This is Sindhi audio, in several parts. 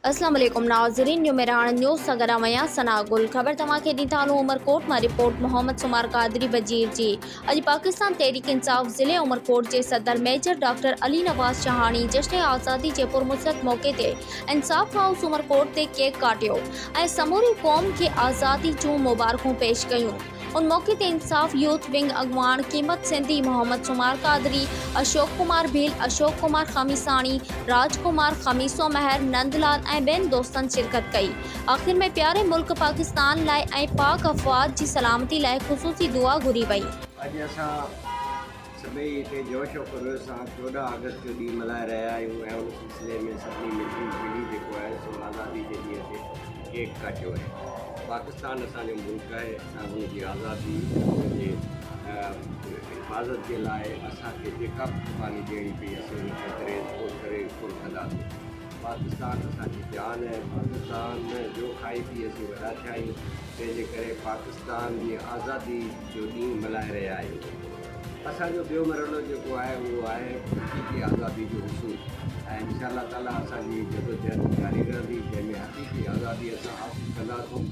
اسلام عليڪم ناظرين نيو مهراڻ نيوز سان گڏ آهيان ثنا گل خبر توهان کي ڏين ٿا هلون عمرڪوٽ مان رپورٽ محمد سمار قادري وزير جي اڄ پاڪستان تحريڪ انصاف ضلعي عمرڪوٽ جي صدر ميجر ڊاڪٽر علي نواز شهاڻي جشن آزادي جي پرمسرت موقعي تي انصاف هائوس عمرڪوٽ تي ڪيڪ ڪاٽيو ۽ سموري قوم کي آزادي جون مبارڪون پيش ڪيون ان موقعي تي انصاف يوٿ ونگ اڳواڻ قيمت سنڌي، محمد سومار قادري، اشوڪ ڪمار ڀيل، اشوڪ ڪمار خميساڻي، راج ڪمار، خميسو مهر، نند لال ۽ ٻين دوستن شرڪت ڪئي. آخر ۾ پياري ملڪ پاڪستان لاء ۽ پاڪ افواج جي سلامتي لاء خصوصي دعا گهري وئي. اڄ اسان سڀئي هتي جوش و خروش سان چوڏهن آگسٽ جو ڏينهن ملهائي رهيا آهيون ۽ ان سلسلي ۾ سڀني ملي جلي جيڪو آهي سو آزادي جي ڏينهن تي ڪيڪ ڪاٽيو آهي. پاڪستان اسان جو ملڪ آهي ۽ ان جي آزادي ۽ ان جي حفاظت جي لاء اسان کي جيڪا به قرباني ڏيڻي پئي اسين ان کي دريز پور ڪري پورو ڪنداسين. پاڪستان اسان جي جان آهي، پاڪستان جو کائي پي اسين وڏا ٿيا آهيون تنهن جي ڪري پاڪستان جي آزادي جو ڏينهن ملهائي رهيا آهيون. اسان جو ٻيو مرحلو جيڪو آهي اهو آهي حقيقي آزادي جو حصول ۽ انشاء الله تعالي اسان جي هي جدوجهد جاري رهندي جنهن ۾ حقيقي آزادي اسان حاصل ڪنداسون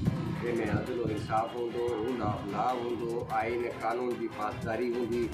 جنهن ۾ عدل و انصاف هوندو روند آف لا هوندو آئين ۽ قانون جي پاسداري هوندي.